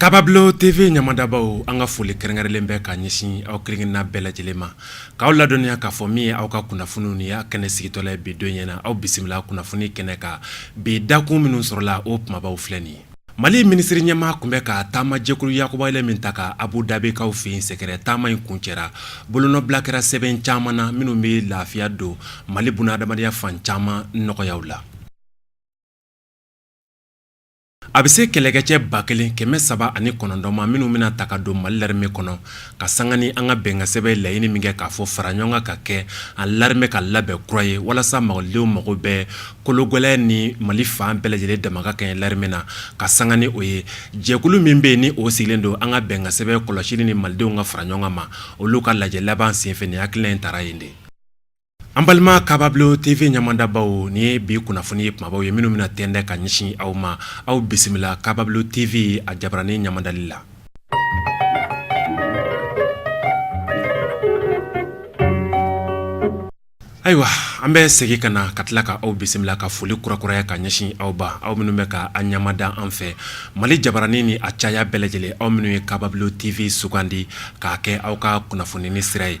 Kaabablon TV ɲamadabaw an ka foli kɛrɛnkɛrɛnlen bɛ ka ɲɛsin aw kelenkelenna bɛɛ lajɛlen ma k'aw ladɔnniya k'a fɔ min ye aw ka kunnafoniw ni y'a kɛnɛ sigitɔla ye bi don ɲɛna aw bisimila kunnafoni kɛnɛ kan bi dakun minnu sɔrɔla o kumabaw filɛ nin ye Mali minisiri ɲɛmaa kun bɛ ka taamajɛkulu yakubalen min ta ka Abu Dabikaw fɛ yen sɛgɛrɛ taama in kuncɛra bolonɔbila kɛra sɛbɛn caman na minnu bɛ lafiya don mali bunadamadenya fan caman nɔgɔyaw la a bɛ se kɛlɛkɛcɛ ba kelen kɛmɛ saba ani kɔnɔntɔn ma minnu bɛna ta ka don mali l'armée kɔnɔ ka sanga ni an ka bɛnkansɛbɛn laɲini min kɛ k'a fɔ fara ɲɔgɔn kan ka kɛ an l'armée ka labɛn kura ye walasa malidenw mago bɛ kologɛlɛya ni mali fan bɛɛ lajɛlen dama ka kɛɲɛ l'armée na ka sanga ni o ye jɛkulu min bɛ yen ni o sigilen don an ka bɛnkansɛbɛn kɔlɔsili ni malidenw ka fara ɲɔgɔn ma olu ka lajɛ laban senfɛ nin hakilina in taara yen de an balima Kaabablon TV ɲamadabaw nin ye bi kunnafoni ye kumabaw ye minnu bɛna tɛndɛ ka ɲɛsin aw ma aw bisimila Kaabablon TV a jabaranin ɲamadali la Ayiwa an bɛ segin ka na ka tila k'aw bisimila ka foli kurakuraya ka ɲɛsin aw ma aw minnu bɛ ka a ɲamada an fɛ mali jabaranin ni a caya bɛɛ lajɛlen aw minnu ye Kaabablon TV sugandi k'a kɛ aw ka kunnafoni ni sira ye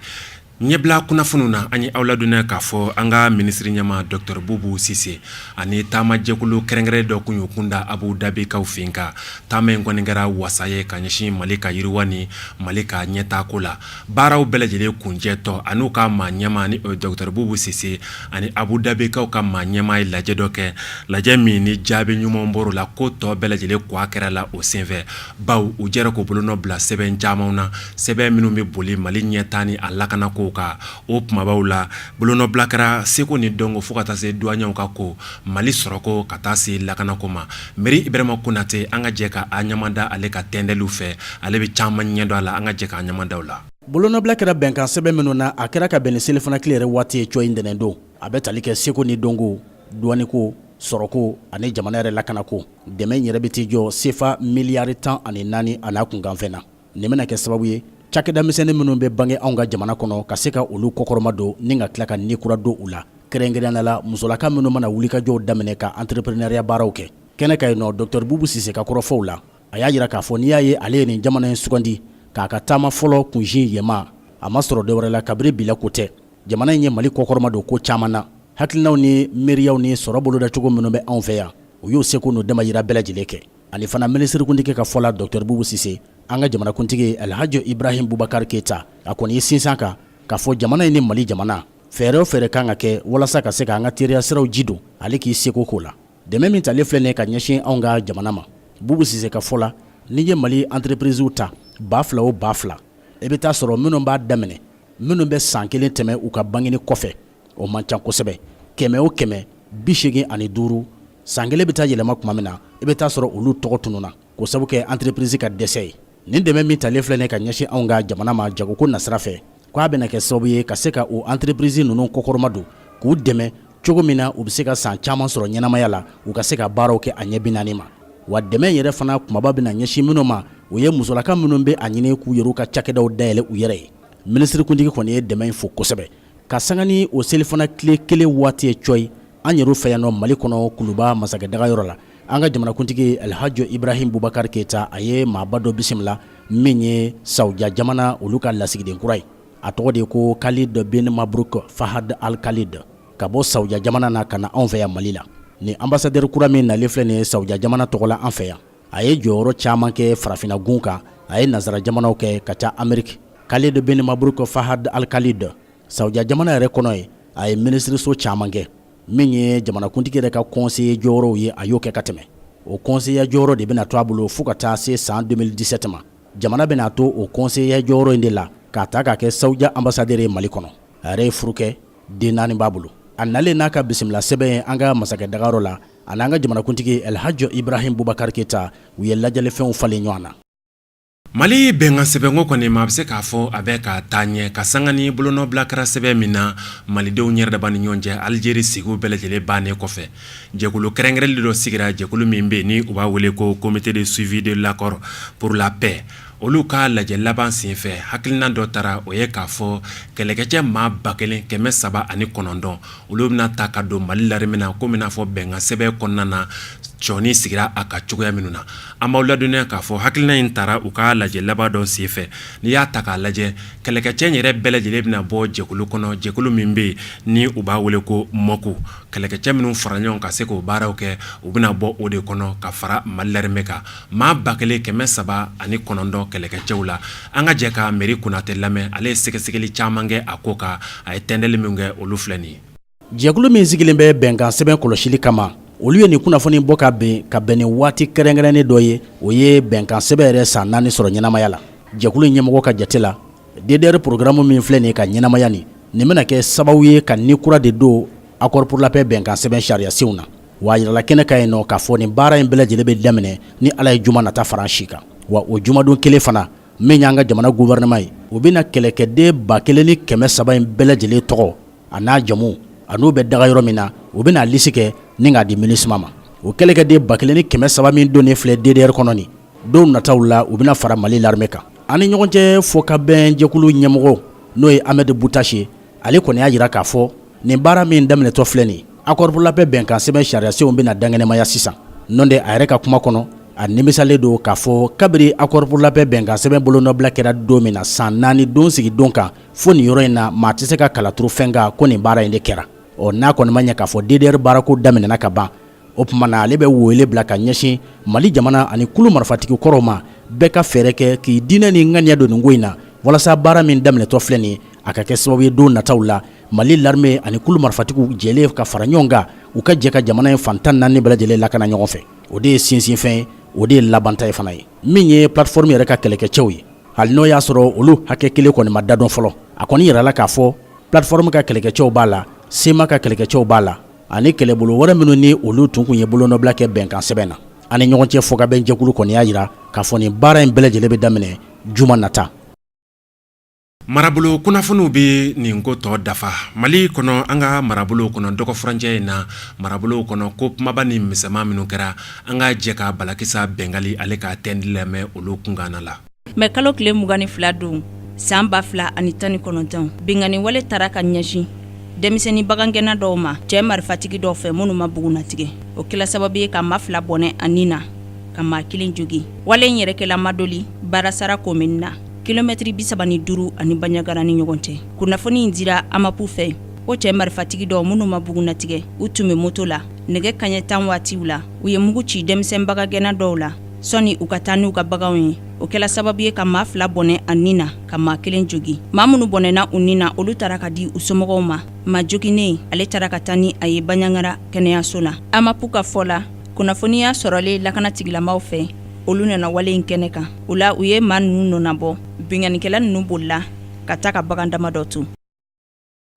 ɲɛbila kunnafoniw na an y'aw ladɔnniya k'a fɔ an ka minisiri ɲɛmaa docteur Bubu Sise ani taamajɛkulu kɛrɛnkɛrɛn dɔ kun y'u kun da Abu Dabikaw fɛ yen ka taama in kɔni kɛra wasa ye ka ɲɛsin mali ka yiriwa ni mali ka ɲɛtaako la baaraw bɛɛ lajɛlen kuncɛtɔ anw ka maa ɲɛmaa ni o ye docteur Bubu Sise ani Abu Dabikaw ka maa ɲɛmaa ye lajɛ dɔ kɛ lajɛ min ni jaabi ɲuman bɔra o la ko tɔ bɛɛ lajɛlen kɔ a kɛra la o senfɛ baw u jɛra k'u bolonɔ bila sɛbɛn camanw na sɛbɛn minnu bɛ boli mali ɲɛtaa ni a lakanako kan o kumabaw la bolonɔbila kɛra seko ni dɔnko fo ka taa se douaniers ka ko Mali sɔrɔko ka taa se lakanako ma Méry Ibrahima Konatɛ an ka jɛ ka a ɲamada ale ka tɛndɛliw fɛ ale bɛ caman ɲɛ dɔn a la an ka jɛ k'a ɲamadaw la bolonɔbila kɛra bɛnkansɛbɛn minnu na a kɛra ka bɛn ni selifana tile yɛrɛ waati ye cɔyi ntɛnɛn don a bɛ tali kɛ seko ni dɔnko douane ko sɔrɔko ani jamana yɛrɛ lakanako dɛmɛ yɛrɛ bɛ t'i jɔ sefa miliyari tan ani naani an'a kunkanfɛn na Nin bɛna kɛ sababu ye cakɛdamisɛnnin minnu bɛ bange anw ka jamana kɔnɔ ka se ka olu kɔkɔrɔma don ni ka tila ka ni kura don u la kɛrɛnkɛrɛnnenya la musolaka minnu mana wulikajɔw daminɛ ka entrepreneuriat baaraw kɛ kɛnɛ kan yen nɔ docteur Bubu Sise ka kɔrɔfɔw la a y'a jira k'a fɔ n'i y'a ye ale ye nin jamana in sugandi k'a ka taama fɔlɔ kunsin yɛma a ma sɔrɔ dɔwɛrɛ la kabiri bila ko tɛ jamana in ye Mali kɔkɔrɔma don ko caman na hakilinaw ni miiriyaw ni sɔrɔ bolodacogo minnu bɛ anw fɛ yan u y'u seko n'u damayira bɛɛ lajɛlen kɛ ani fana minisirikuntigi ka fɔ la Docteur Boubou Cisse an ka jamanakuntigi Alhaji Ibrahim Boubacar Keita a kɔni ye sinsin a kan k'a fɔ jamana in ni Mali jamana fɛɛrɛ o fɛɛrɛ kan ka kɛ walasa ka se k'an ka teriya siraw ji don ale k'i seko k'o la dɛmɛ min talen filɛ nin ye ka ɲɛsin anw ka jamana ma Boubou Cisse ka fɔ la n'i ye Mali entreprises ta ba fila o ba fila i bɛ t'a sɔrɔ minnu b'a daminɛ minnu bɛ san kelen tɛmɛ u ka bangeni kɔfɛ o man ca kosɛbɛ kɛmɛ o kɛmɛ bi segin ani duuru san kelen bɛ taa yɛlɛma tuma min na i bɛ t'a sɔrɔ olu tɔgɔ tununna k'o sabu kɛ antirepirizi ka dɛsɛ ye nin dɛmɛ min talen filɛ nin ka ɲɛsin anw ka jamana ma jagoko nasira fɛ ko a bɛna kɛ sababu ye ka se ka o antirepirizi ninnu kɔkɔrɔma don k'u dɛmɛ cogo min na u bɛ se ka san caman sɔrɔ ɲɛnamaya la u ka se ka baaraw kɛ a ɲɛ bi naani ma wa dɛmɛ yɛrɛ fana kunbaba bɛna ɲɛsin minnu ma o ye musolaka minnu bɛ a ɲini k'u yɛrɛ ka cakɛdaw dayɛlɛ u yɛrɛ ye minisirikuntigi kɔni ye dɛmɛ in fo kosɛbɛ ka sanga ni o selifana tile kelen waati ye cɔyi an yɛrɛ fɛ yan nɔ mali kɔnɔ kuluba masakɛ daga yɔrɔ la an ka jamanakuntigi Alhaji Ibrahim Boubacar Keita a ye maaba dɔ bisimila min ye Saudiya jamana olu ka lasigiden kura ye a tɔgɔ de ko Khalid bin Mabruk Fahad Al Khalid ka bɔ Saudiya jamana na ka na anw fɛ yan mali la ni anbasadɛri kura min nalen filɛ nin ye Saudiya jamana tɔgɔ la an fɛ yan a ye jɔyɔrɔ caman kɛ farafinna gun kan a ye nansara jamanaw kɛ ka ca ameriki Khalid bin Mabruk Fahad Al Khalid Saudiya jamana yɛrɛ kɔnɔ yen a ye minisiririso caman kɛ min ye jamanakuntigi yɛrɛ ka kɔnseye jɔyɔrɔw ye a y'o kɛ ka tɛmɛ o kɔnseyeya jɔyɔrɔ de bɛna to a bolo fo ka taa se san 2017 ma jamana bɛna a to o kɔnseyeya jɔyɔrɔ in de la k'a ta k'a kɛ Saudiya anbasadɛri ye mali kɔnɔ a yɛrɛ ye furu kɛ den naani b'a bolo a nalen n'a ka bisimila sɛbɛn ye an ka masakɛ daga yɔrɔ la A n'an ka jamanakuntigi Alhaji Ibrahim Boubacar Keita u ye ladiyalifɛnw falen ɲɔgɔn na mali bɛnkan sɛbɛnko kɔni maa bɛ se k'a fɔ a bɛ ka taa ɲɛ ka sanga ni bolonɔbila kɛra sɛbɛn min na malidenw yɛrɛ dama ni ɲɔgɔn cɛ alijeri sigiw bɛɛ lajɛlen bannen kɔfɛ jɛkulu kɛrɛnkɛrɛnnen dɔ sigira jɛkulu min bɛ ni u b'a wele ko comité de suivi de l'accord pour la paix olu ka lajɛ laban senfɛ hakilina dɔ tara o ye k'a fɔ kɛlɛkɛcɛ maa ba kelen kɛmɛ saba ani kɔnɔntɔn olu bɛna ta ka don mali larimɛ na komi n'a fɔ bɛnkansɛbɛn kɔnɔna na cɔni sigira a ka cogoya minnu na an b'aw ladɔnniya k'a fɔ hakilina in tara u ka lajɛ laban dɔ senfɛ n'i y'a ta k'a lajɛ kɛlɛkɛcɛ in yɛrɛ bɛɛ lajɛlen bɛna bɔ jɛkulu kɔnɔ jɛkulu min bɛ yen ni u b'a wele ko MOC kɛlɛkɛcɛ minnu fara ɲɔgɔn ka se k'o baaraw kɛ u bɛna bɔ o de kɔnɔ ka fara mali larimɛ kan maa ba kelen kɛmɛ saba ani kɔnɔntɔn kɛlɛkɛcɛw la an ka jɛ ka Méry Konaté lamɛn ale ye sɛgɛsɛgɛli caman kɛ a ko kan a ye tɛntɛli min kɛ olu filɛ nin ye jɛkulu min sigilen bɛ bɛnkan sɛbɛn kɔlɔsili kama olu ye nin kunnafoni bɔ ka bɛn ka bɛn ni waati kɛrɛnkɛrɛnnen dɔ ye o ye bɛnkan sɛbɛn yɛrɛ san naani sɔrɔ ɲɛnamaya la jɛkulu ɲɛmɔgɔ ka jate la ddr porogaramu min filɛ nin ka ɲɛnamaya nin nin bɛna kɛ sababu ye ka ni kura de don accord pour la paix bɛnkansɛbɛn sariyasenw na wa a jirala kɛnɛ kan yen nɔ k'a fɔ nin baara in bɛɛ lajɛlen bɛ daminɛ ni Ala ye juma nata fara an si kan, wa o jumadon kelen fana min y'an ka jamana gouvernement ye, o bɛna kɛlɛkɛden ba kelen ni kɛmɛ saba in bɛɛ lajɛlen tɔgɔ a n'a jamu a n'u bɛ daga yɔrɔ min na, u bɛna a lisi kɛ ni k'a di Minusma ma, o kɛlɛkɛden ba kelen ni kɛmɛ saba min donnen filɛ DDR kɔnɔ nin, don nataw la u bɛna fara Mali l'armée kan. An ni ɲɔgɔn cɛ fɔkabɛn jɛkulu ɲɛmɔgɔ n'o ye Ahmed Boutache ye, ale kɔni y'a jira k'a fɔ Nin baara min daminɛtɔ filɛ nin accord pour la paix bɛnkan sɛbɛn sariyasenw bɛna danɲɛnamaya sisan, n'o tɛ a yɛrɛ ka kuma kɔnɔ, a nimisalen don k'a fɔ kabiri accord pour la paix bɛnkan sɛbɛn bolonɔbila kɛra don min na san naani don sigi don kan, fo nin yɔrɔ in na, maa tɛ se ka kala turu fɛn kan ko nin baara in de kɛra, ɔ n'a kɔni ma ɲɛ k'a fɔ DDR baarako daminɛna ka ban o tuma na ale bɛ wele bila ka ɲɛsin mali jamana ani kulu marifatigi kɔrɔw ma bɛɛ ka fɛɛrɛ kɛ k'i diinɛ ni ŋaniya don nin ko in na walasa baara min daminɛtɔ filɛ nin a ka kɛ sababu ye don nataw la mali l'armée ani kulu marifatigiw jɛlen ka fara ɲɔgɔn kan u ka jɛ ka jamana in fantan naani bɛɛ lajɛlen lakana ɲɔgɔn fɛ o de ye sinsinfɛn ye o de ye labanta ye fana ye min ye plateforme yɛrɛ ka kɛlɛkɛcɛw ye hali n'o y'a sɔrɔ olu hakɛ kelen kɔni ma dadɔn fɔlɔ a kɔni jirala k'a fɔ plateforme ka kɛlɛkɛcɛw b'a la CMA ka kɛlɛkɛcɛw b'a la ani kɛlɛbolo wɛrɛ minnu ni olu tun kun ye bolonɔbila kɛ bɛnkansɛbɛn na an ni ɲɔgɔn cɛ fɔkabɛnjɛkulu kɔni y'a jira k'a fɔ nin baara in bɛɛ lajɛlen bɛ daminɛ juma nata marabolo kunnafoniw bɛ nin ko tɔ dafa mali kɔnɔ an ka marabolo kɔnɔ dɔgɔfurancɛ in na marabolo kɔnɔ ko kumaba ni misɛnman minnu kɛra an ka jɛ ka balakisa bɛngali ale ka tɛndi lamɛn olu kunkanna la mɛ kalo tile mugan ni fila don san ba fila ani tan ni kɔnɔntɔn binkanni wale taara ka ɲɛsin denmisɛnnin bagangɛnna dɔw ma cɛ marifatigi dɔw fɛ minnu ma bugunnatigɛ o kɛla sababu ye ka maa fila bɔnɛ a ni na ka maa kelen jogin wale in yɛrɛ kɛla madoli barasara komini na kilomɛtiri bisaba ni duuru a ni baɲagara ni ɲɔgɔn cɛ kunnafoni in dira amapu fɛ o cɛ marifatigi dɔw minnu ma bugunnatigɛ u tun bɛ moto la nɛgɛ kaɲɛ tan waatiw la u ye mugu ci denmisɛn bagangɛnna dɔw la sɔni u ka taa n'u ka baganw ye o kɛla sababu ye ka maa fila bɔnɛ a ni na ka maa kelen jogin maa minnu bɔnɛna u ni na olu taara ka di u somɔgɔw ma maa joginnen ale taara ka taa ni a ye baɲangara kɛnɛyaso la amapu ka fɔ la kunnafoniya sɔrɔlen lakanatigilamaaw fɛ olu nana wale in kɛnɛ kan o la u ye maa ninnu nɔnabɔ binkannikɛla ninnu bolila ka taa ka bagan dama dɔ to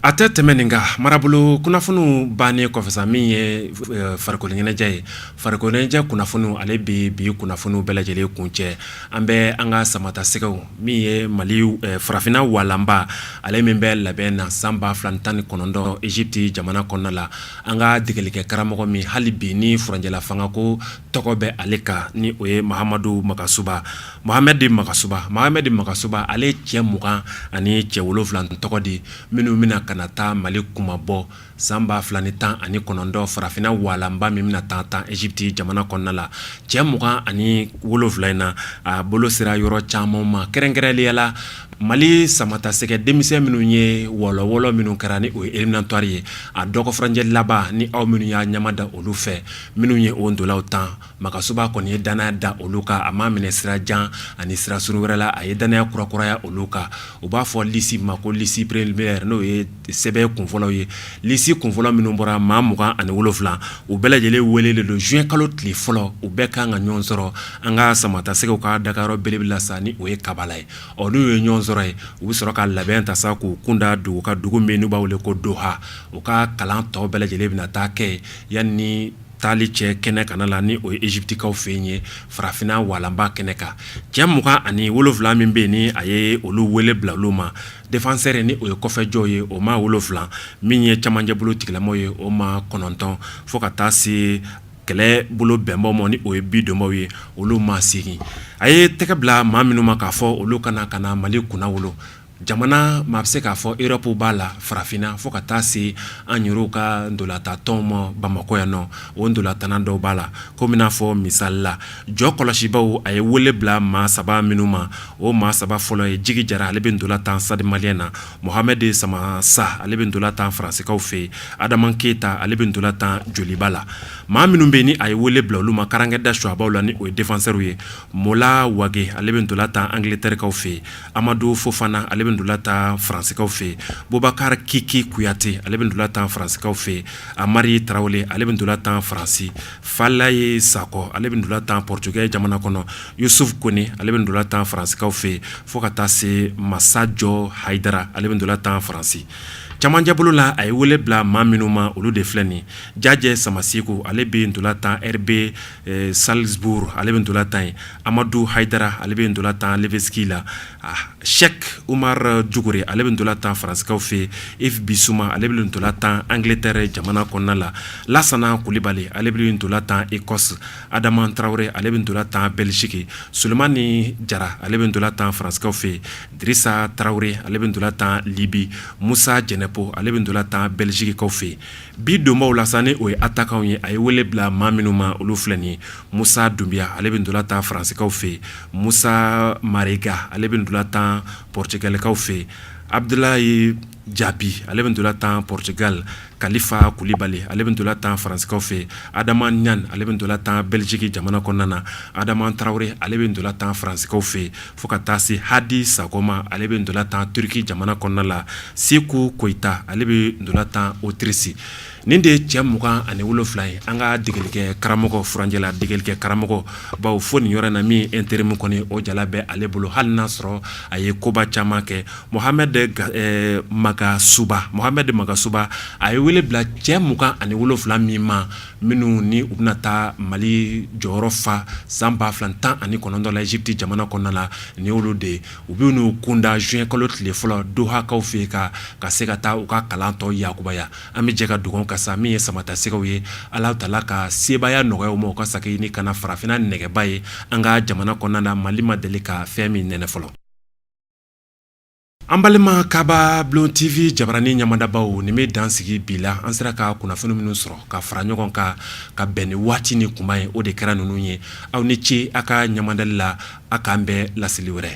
A tɛ tɛmɛ nin kan marabolo kunnafoniw bannen kɔfɛ sa min ye farikoloɲɛnajɛ ye farikoloɲɛnajɛ kunnafoniw ale bɛ bi kunnafoniw bɛɛ lajɛlen kuncɛ an bɛ an ka samatasɛgɛw min ye mali farafinna walanba ale min bɛ labɛn na san ba fila tan ni kɔnɔntɔn Egypte jamana kɔnɔna la an ka degelikɛ karamɔgɔ min hali bi ni furancɛla fangako tɔgɔ bɛ ale kan ni o ye mahamadu makasuba mahamɛdi makasuba ale cɛ mugan ani cɛ wolonwula tɔgɔ di minnu bɛna ka taa mali kunmabɔ san ba fila ni tan ani kɔnɔntɔn farafinna walanba min bɛna taa tan eziputi jamana kɔnɔna la cɛ mugan ani wolonwula in na a bolo sera yɔrɔ caman ma kɛrɛnkɛrɛnnenya la mali samatasɛgɛ denmisɛn minnu ye wɔlɔwɔlɔ minnu kɛra ni o ye eliminatuwari ye a dɔgɔ furancɛ laban ni aw minnu y'a ɲamada olu fɛ minnu ye o ntolaw tan makasuba kɔni ye dannaya da olu kan a ma minɛ sira jan ani sira surun wɛrɛ la a ye dannaya kurakuraya olu kan u b'a fɔ lisi ma ko lisi preliminɛri n'o ye sɛbɛn kunfɔlɔ ye lisi kunfɔlɔ minnu bɔra maa mugan ani wolofila u bɛɛ lajɛlen welelen don zuwɛn kalo tile fɔlɔ u bɛɛ kan ka ɲɔgɔn sɔrɔ an ka samatasɛgɛw ka dagayɔrɔ belebele la sa ni o ye kabala ye ɔ n'u ye ɲɔgɔn sɔrɔ yen u bɛ sɔrɔ ka labɛn ta sa k'u kun da dugu kan dugu min n' b'a wele ko doha u ka kalan tɔ bɛɛ lajɛlen bɛ na taa kɛ Yanni taali cɛ kɛnɛ kana la ni o ye eziputikaw fɛ yen ye farafinna walanba kɛnɛ kan cɛ mugan ani wolofila min bɛ ni a ye olu wele bila olu ma defansɛri ni o ye kɔfɛjɔ ye o maa wolofila min ye camancɛ bolo tigilamaw ye o maa kɔnɔntɔn fo ka taa se kɛlɛ bolo bɛnbaw ma ni o ye bidonbaw ye olu maa segin a ye tɛgɛ bila maa minnu ma k'a fɔ olu ka na ka mali kunnawolo jamana maa bɛ se k'a fɔ erɔpu b'a la farafinna fo ka taa se an yɛrɛ ka ntolatantɔnw ma bamakɔ yan nɔ o ntolatan dɔw b'a la komi n'a fɔ misali la jɔkɔlɔsibaaw a ye wele bila maa saba minnu ma o maa saba fɔlɔ ye jigi jara ale bɛ ntola tan sitadi maliyɛn na muhamɛdi samasa ale bɛ ntola tan faransikaw fɛ yen ha adama keyita ale bɛ ntola tan joliba la maa minnu bɛ ni a ye wele bila olu ma karankɛ da suwa la ni o ye defansɛriw ye Mola wage ale bɛ ntola tan angilɛtɛrikaw fɛ yen amadu fofana ale bɛ ntola tan faransikaw fɛ bubakari kiki kuyate ale bɛ ntola tan faransikaw fɛ amari tarawele ale bɛ ntola tan faransi falayi sakɔ ale bɛ ntola tan pɔritigɛ jamana kɔnɔ yusufu kɔnɛ ale bɛ ntola tan faransikaw fɛ fo ka taa se masajɔ hayidara ale bɛ ntola tan faransi camancɛ bolo la a ye wele bila maa minnu ma olu de filɛ nin jajɛ samaseku ale bɛ ntola tan ɛribe salizuburu ale bɛ ntola tan yen amadu hayidara ale bɛ ntola tan lɛpisiki la sɛki umaru dukure ale bɛ ntola tan faransikaw fɛ ivu bisuma ale bɛ ntola tan angilɛtɛri jamana kɔnɔna la lasana kulibali ale bɛ ntola tan ekɔsi ha adama tarawele ale bɛ ntola tan bɛliziki solomani jara ale bɛ ntola tan faransikaw fɛ dirisa tarawele ale bɛ ntola tan libi musa jɛnɛpo ale bɛ ntola tan bɛlizikikaw fɛ Bi donbaw la sa ni o ye atakanw ye a ye wele bila maa minnu ma olu filɛ nin musa dunbiya ale bɛ ntola tan faransikaw fɛ musa marega ale bɛ ntola tan pɔritigalikaw fɛ abudulayi jabi ale bɛ ntola tan pɔritigali kalifa kulibali ale bɛ ntola tan faransikaw fɛ adama ɲan ale bɛ ntola tan bɛliziki jamana kɔnɔna na adama tarawele ale bɛ ntola tan faransikaw fɛ Fo ka taa se hadi sako ma ale bɛ ntola tan turiki jamana kɔnɔna la seku koyita ale bɛ ntola tan otirisi nin de ye cɛ mugan ani wolonwula ye an ka degelikɛ karamɔgɔ furancɛla degelikɛ karamɔgɔ bawo fo nin yɔrɔ na min ɛnterimu kɔni o jala bɛ ale bolo hali n'a sɔrɔ a ye koba caman kɛ mohamɛdi magasuba a ye wele bila cɛ mugan ani wolonwula min ma minnu ni u bɛna taa mali jɔyɔrɔ fa san ba fila tan ani kɔnɔntɔn la ezipiti jamana kɔnɔna la ni olu de u bɛ n'u kunda zuwɛnkalo tile fɔlɔ dohakaw fɛ ka ka se ka taa u ka kalan tɔ yakubaya an bɛ jɛ ka dugawu kɛ sa min ye samatasɛgɛw ye ala taala ka sebaaya nɔgɔya u ma u ka segin ni ka na farafinna nɛgɛba ye an ka jamana kɔnɔna na mali ma deli ka fɛn min nɛnɛ fɔlɔ An balima kababulon tewe jabaranin ɲamadabaw nin bɛ dan sigi bi la an sera ka kunnafoni minnu sɔrɔ ka fara ɲɔgɔn kan ka bɛn ni waati ni kuma ye o de kɛra ninnu ye aw ni ce a ka ɲamadali la a k'an bɛn laseli wɛrɛ